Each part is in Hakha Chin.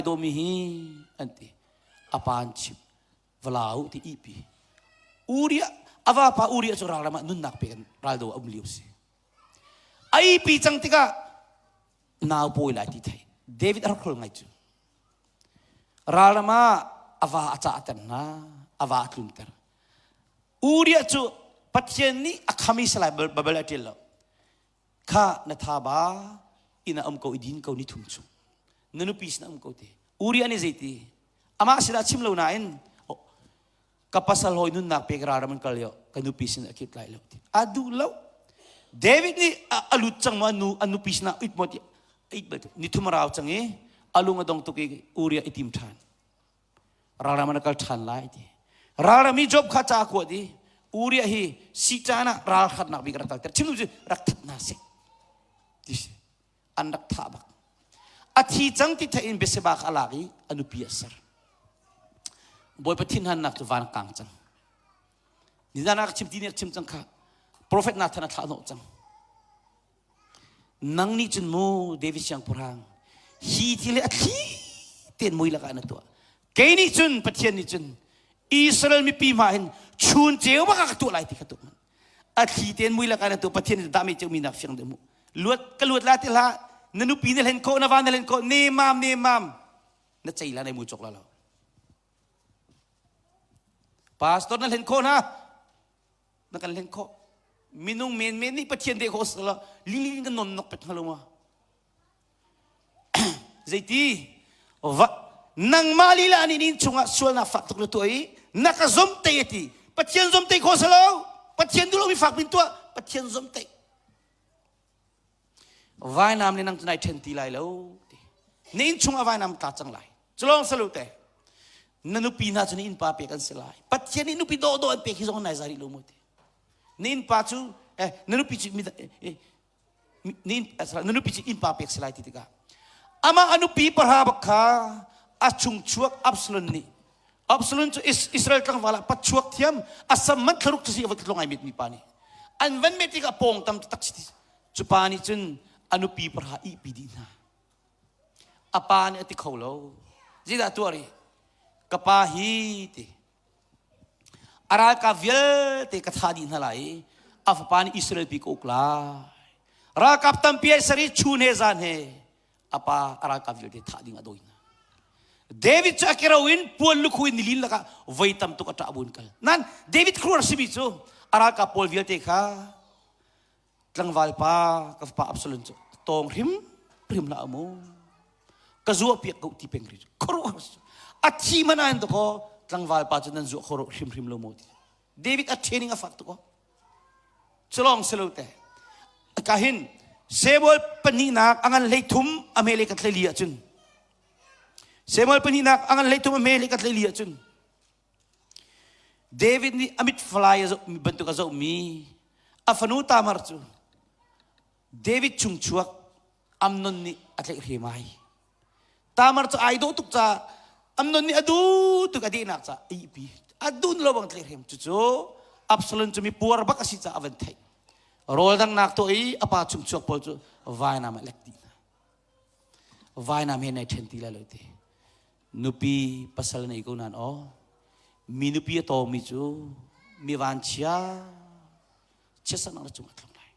dawmi hi an ti apa an chim vala u ti ihpi uria avapa uria cu ralram ah nunnak pe kan raldo a um lio si ai pi cang tikah nau pawi lai ti thei david a rak hrol ngai cu ralram ah ava a cah ter hna ava a tlun ter uria cu pathian nih a khamisa lai babel a ṭil lo kha na tha ba inn a um ko i din ko ni thum chu na nupi sin a um ko te uri an i zeiti amah sinah chim lo nain ka pasal hoi nunnak pek ra ram an kal yo ka nupi sin a kit lai lo ti a duh lo david nih a lut cang ma nu a nupi sinah it mot it bal ni thum rau chang i alung adong tuk i uria itim than ralram an kal ṭhan lai ti ralram i job kha ca kuat i uriah hi si caan ah ralhratnak bik rak kalter chim cu rak that hna si ti an rak thah bak a thi cang ti thei in Beseba kha a lak i a nupi a ser bawipa thinhannak cu van kang cang nizan ah chim ti nih chim cang kha profet Nathan a thlah hnawh cang nang nih cun mu David siangpahrang hi thil hi a thli tein mui lakah na tuah kei nih cun Pathian nih cun Israel mipi hma hin chun ceu bak ka tuah lai ti kha tuah a thli tein mui lakah na tuah Pathian nih dah me ceumi nak fiang deuh mu luat ka luat la ti hla na nupi na hlen ko na va na hlen ko ne mam ne mam na cei la na mu chok la lo pastor na hlen ko na na kan len khawh minung menmen nih pathian deh khawh sala lilin kan non nok pet hnga lo ma zeiti va nangmah lila ni nin chungah sualna fak tuk la tua i na ka zom te ti pathian zom te khawh salo pathian dulo mi fak bin tua pathian zom te vainam nih nang cu nai ṭhen ti lai lo ti na inn chung ah vainam tla cang lai cu lawng salu te na nupi hna cu na innpa pek an si lai pathian nih nupi dawhdawh an pek hi zong nai za rih lo mu ti na innpa cu eh, na nupi cu mi- eh, na inn- eh, sorry, na nupi cu innpa pek si lai ti tikah amah a nupi pahra bak kha a chung chuak Absalom nih Absalom cu Israel tlangval ah patchuak thiam asam man thlaruk cu si a va tlong ai mit mi pa nih an van met tikah pawng tam cu tak si cu pa nih cun a nupi parha ihpi dih hna a pa nih a ti kho lo zidah tuar i ka pa hi ti a ralkap vialte ka thah dih hna lai i a fapa nih Israel pi ka uk lai ralkap tampi ai ser i chun he zan he a pa a ralkap vialte thah ding a dawi hna David cu akero in puan lukhu in nilin lakah voi tam tuk a ṭah buin kal nan David khuar simi cu a ralkap pawl vialte kha tlangval pa ka fapa Absalom cu tawng hrim hrim la amu ka zuah piak ko ti peng ri khuruh a thi mana in to tlangval pa cu nan zuah khoro hrim hrim lo mo ti David a training a fak tuk culong si lo te ka hin Samuel pahnihnak a ngan hlei thum a me le ka tleli ahcun Samuel pahnihnak a ngan hlei thum a me le ka tleli ahcun David nih a mit fly a zoh bantuk a zohmi a fanu Tamar cu David chung chuak Amnon nih a tleih hrim ai. Tamar cu ai dawh tuk ca Amnon nih a duh tuk a dihnak ca ihpi a dun lo bang tleih hrim cucu Absalom cu mi puar bak a si ca a van theih rawl dangnak tuah i a pa chung chuak pawl cu vainam a lek dih hna vainam he nei ṭhen ti la lo ti nupi pasal nei ko nan aw mi nupi a tawmi cu mi vanchia chiat sanak na cung a tlung lai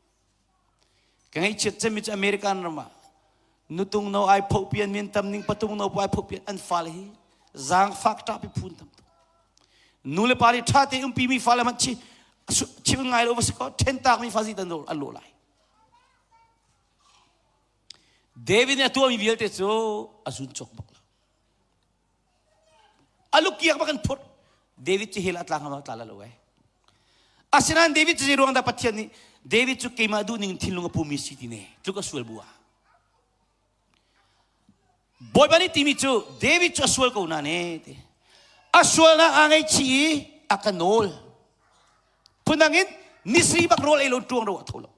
ka ngeichiat cemi cu american ram ah nutung no ai phoh pian min tam ning patung no pai phoh pian an fale hi zang fak ta pi phun tam nu le pa li tha te umpi mi fale man chi chim ngai lo va se ko then tak mi fazi tan an lo lai david ne tua mi vialte cu a zun chok bak alukiak bak an phut david cu hell a tla ngam tla lo ai asinain david cu zei ruang dah pathian nih david cu keimah duh ning thinlung a pumi si ti ne cu ka sual bu ah bawipa nih timi cu david cu a sual ko na ne ti a sualnak aa ngaichih i a ka nawl phundang in nisri bak rawl ei lo ṭuang ro a tho lo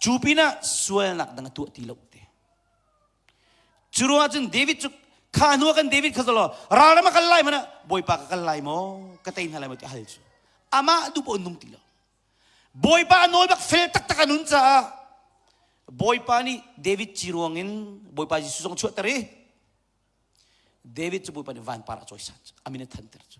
cu pinah sualnak dang a tuah ti lo te Cu ruangah cun David cu kha hnu kan David kha zalaw ral ram a kal lai mana Bawipa ka kal lai maw ka tei hna lai maw ti hal cu amah tu pawh an nung ti lo Bawipa nawl bak fel taktak an hun caah Bawipa nih David ci ruangin Bawipa Jesuh zong chuahter i David cu Bawipa nih vanpar a cawisat amin a thanter cu